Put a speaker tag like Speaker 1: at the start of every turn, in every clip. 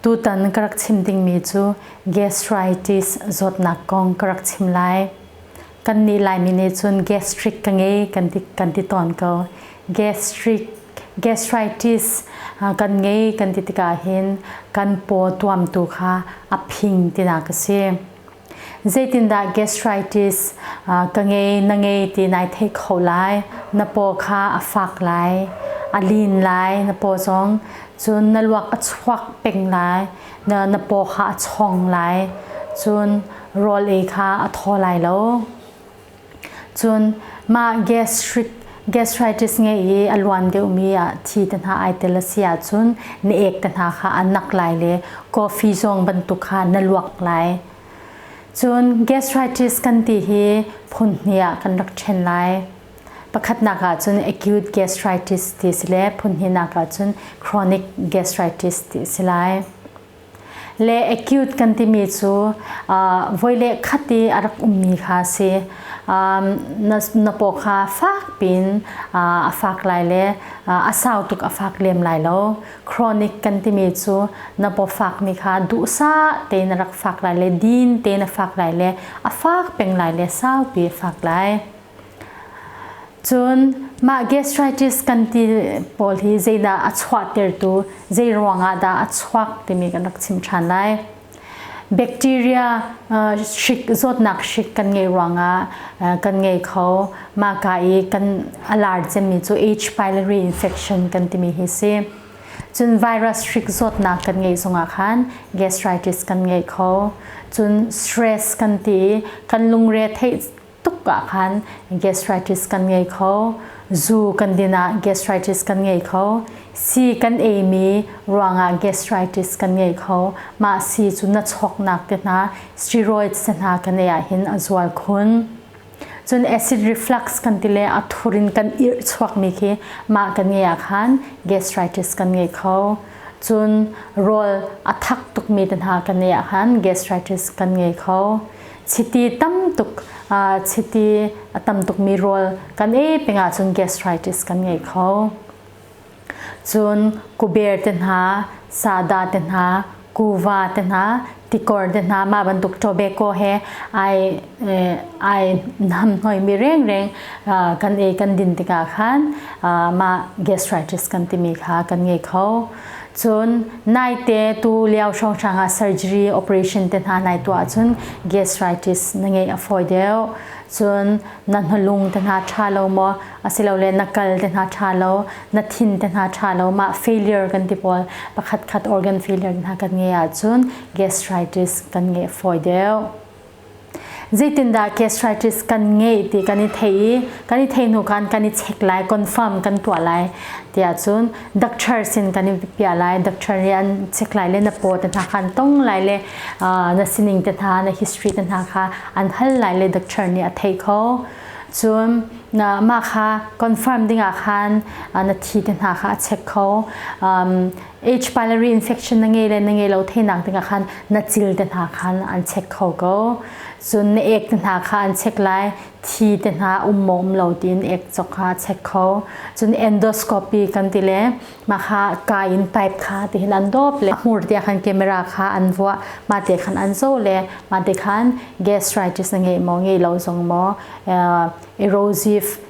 Speaker 1: Tutan ka rak chim dingmi cu gastritis zawtnak kong ka rak chim lai. Kannih Laimi nih cun gastric ka ngei kan ti, kan ti tawn ko. Gastric, gastritis kan ngei kan ti tikah hin kan paw tuamtu kha a phing tinak a si. zeitindah gastritis ka ngei na ngei ti nai theih kho lai na paw kha a fak lai a lin lai na paw zong cun na luak a chuak peng lai na na paw kha a chong lai cun rawl ei kha a thaw lai lo Cun mah gastritis ngei i a luan deuhmi ah thi te hna ai tel a si ahcun na ek te hna kha a nak lai le coffee zong bantuk kha na luak lai. Cun gastritis kan ti hi phun hnih ah kan rak ṭhen lai. Pakhatnak ah cun acute gastritis ti si le phun hnihnak ah cun chronic gastritis ti si lai. le acute kan timi cu voi le khat i a rak ummi kha a si na, na paw kha fak piin a fak lai le a sau tuk a fak lem lai lo chronic kan timi cu na paw fakmi kha duhsa tein a rak fak lai le din tein a fak lai le a fak peng lai le saupi a fak lai Cun mah gastritis kan ti pawl hi zeidah a chuahtertu, zei ruangah dah a chuak timi kan rak chim ṭhan lai. Bacteria hrik, zawtnak hrik kan ngeih ruangah kan ngei kho. Mahka i kan a lar cemmi cu H. pylori infection kan timi hi si. Cun virus hrik zawtnak kan ngeih zongah khan gastritis kan ngei kho. Cun stress kan ti i kan lungre theih tuk ah khan gastritis kan ngei kho zu kan din ah gastritis kan ngei kho si kan ei mi ruangah gastritis kan ngei kho mah si cu na chawknak te hna steroids te hna kan ei ah hin a zual khun cun acid reflux kan ti le a thur in kan ir chuak mi khi mah kan ngei ah khan gastritis kan ngei kho cun rawl a thak tuk mi te hna kan ngei ah khan gastritis kan ngei kho chiti tam tuk chiti a tam tukmi rawl kan ei peng ahcun gastritis kan ngei kho cun kuber te hna sada te hna kuva te hna tikor te hna mah bantuk tobacco he ai ai nam hnoimi rengreng kan ei kan din tikah khan mah gastritis kan timi kha kan ngei kho Cun naite tu lio hrawnghrang ah surgery operation te hna nai tuah ahcun gastritis na ngeih a fawi deuh. Cun na hnulung te hna ṭha lo maw asilole na kal te hna ṭha lo, na thin te hna ṭha lo, mah failure kan ti pawl pakhatkhat organ failure hna kan ngeih ahcun gastritis kan ngeih a fawi deuh. zeitindah gastritis kan ngei ti kan i thei i kan i thei hnu khan kan i check lai confirm kan tuah lai tiah cun doctor sin kan i pia lai doctor nih an check lai le na paw te hna khan tong lai le na sining te hna na history te hna kha an hal lai le doctor nih a thei kho cun mah kha confirm dingah khan na thi te hna kha a check kho Age pylori infection na ngei le na ngei lo thenak dingah khan na cil te hna khan an check kho ko cun na ek te hna kha an check lai thi te hna um maw um lo tiin ek chok kha check kho cun endoscopy kan ti le ma kha ka in pipe kha ti hin an dop le hmur dia khan camera kha an vuah ma te khan an zo le ma te khan gastritis na ngei maw ngei lo zong maw uh, erosive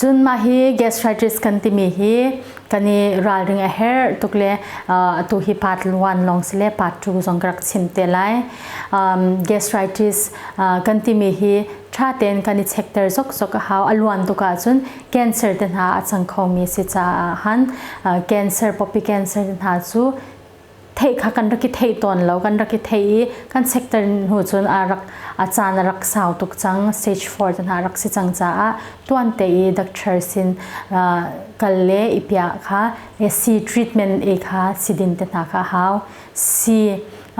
Speaker 1: Cun mah hi gastritis kan timi hi kan i ralring a herh tuk le uh, atu hi part 1 lawng si le part 2 zong ka rak chim te lai. Um, gastritis uh, kan timi hi tha tein kan i chekter zokzok a hau a luan tuk ahcun cancer te hna a cang khomi si caah han uh, cancer poppy cancer te hna cu theih kha kan rak i thei tawn lo kan rak i thei i kan sector hnu cun a rak a caan a rak sau tuk cang stage 4 te hna rak si cang caah tuan te i doctor sin kal le i piah kha AC treatment e kha si din te hna kha hau si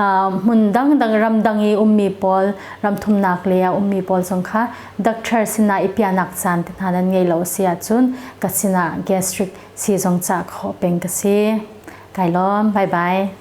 Speaker 1: hmun dangdang ramdang i ummi pawl ramthumnak le a ummi pawl zong kha doctor sinah i piahnak caan te hna nan ngei lo a si ahcun ka sinah gastric si zong cah khawh peng ka si. Kai lawm. Bye bye.